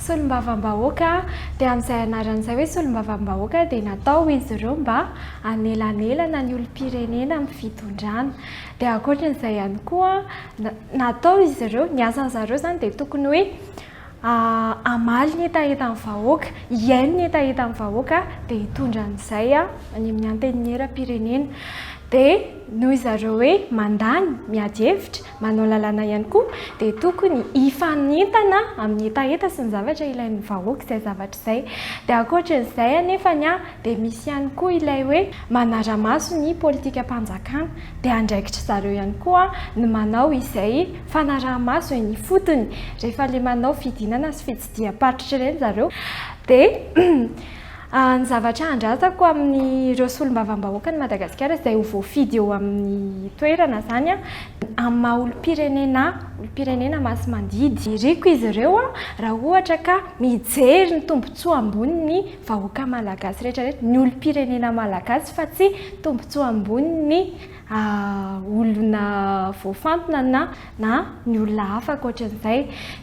Solombavambahoaka, dia amin'izay anarana izay hoe solombavambahoaka dia natao izy ireo mba hanelanelana ny olom-pirenena amin'ny fitondrana. Dia ankoatra an'izay ihany koa, natao izy ireo, ny asan'izareo izany dia tokony hoe, Hamaly ny hetahetan'ny vahoaka, hihaino ny hetahetan'ny vahoaka dia hitondra an'izay any amin'ny Antenimieram-pirenena. Dia noho izy ireo hoe mandany, miady hevitra, manao lalàna ihany koa dia tokony hifanentana amin'ny hetaheta sy ny zavatra ilain'ny vahoaka izay zavatra izay. Dia ankoatran'izay anefany, Dia misy ihany koa ilay hoe manara-maso ny politikam-panjakana. Dia andraikitry zareo ihany koa ny manao izay fanaraha-maso eny ifotony. Rehefa ilay manao fidinana sy fitsidiham-paritra ireny zareo dia ny zavatra handratako amin'ireo solombavambahoakan'i Madagasikara izay ho voafidy eo amin'ny toerana izany amin'ny maha olom-pirenena ahy, olom-pirenena masimandidy. Iriko izy ireo raha ohatra ka mijery ny tombontsoa amboniny. vahoaka malagasy rehetra rehetra, ny olom-pirenena malagasy fa tsy tombontsoa ambonin'ny olona voafantina na na ny olona hafa ankoatran'izay.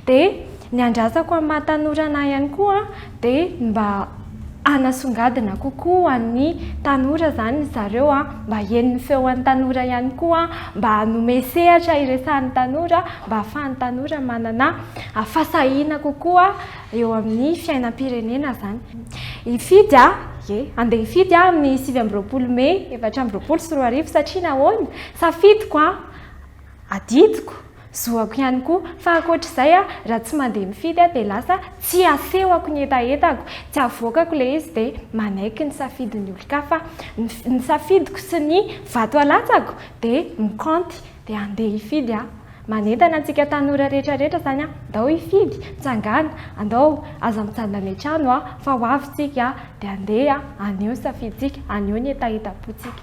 Dia ny andrasako amin'ny maha tanora anah ihany koa dia ny mba hanasongadina kokoa ho an'ny tanora izany ry zareo, mba heno ny feon'ny tanora ihany koa, mba hanome sehatra hiresahan'ny tanora mba ahafahan'ny tanora manana fahasahiana kokoa. eo amin'ny fiainam-pirenena izany. Hifidy aho, ie, handeha hifidy aho amin'ny sivy amby roapolo mey efatra amby roapolo sy roa arivo satria nahoana? Safidiko an! Adidiko, zoako ihany koa. Fa ankoatra izay, raha tsy mandeha mifidy aho dia lasa tsy asehoko ny hetahetako, tsy avoakako ilay izy dia manaiky ny safidin'ny olon-kafa. Ny safidiko sy ny vato alatsako dia mikaonty. Dia andeha hifidy aho. Manentana antsika tanora rehetra rehetra izany aho, ndao hifidy, mitsangàna, andao, aza mijanona any an-trano a, fa ho avy isika a, dia andeha, aneho ny safidintsika, aneho ny hetahetam-pontsika.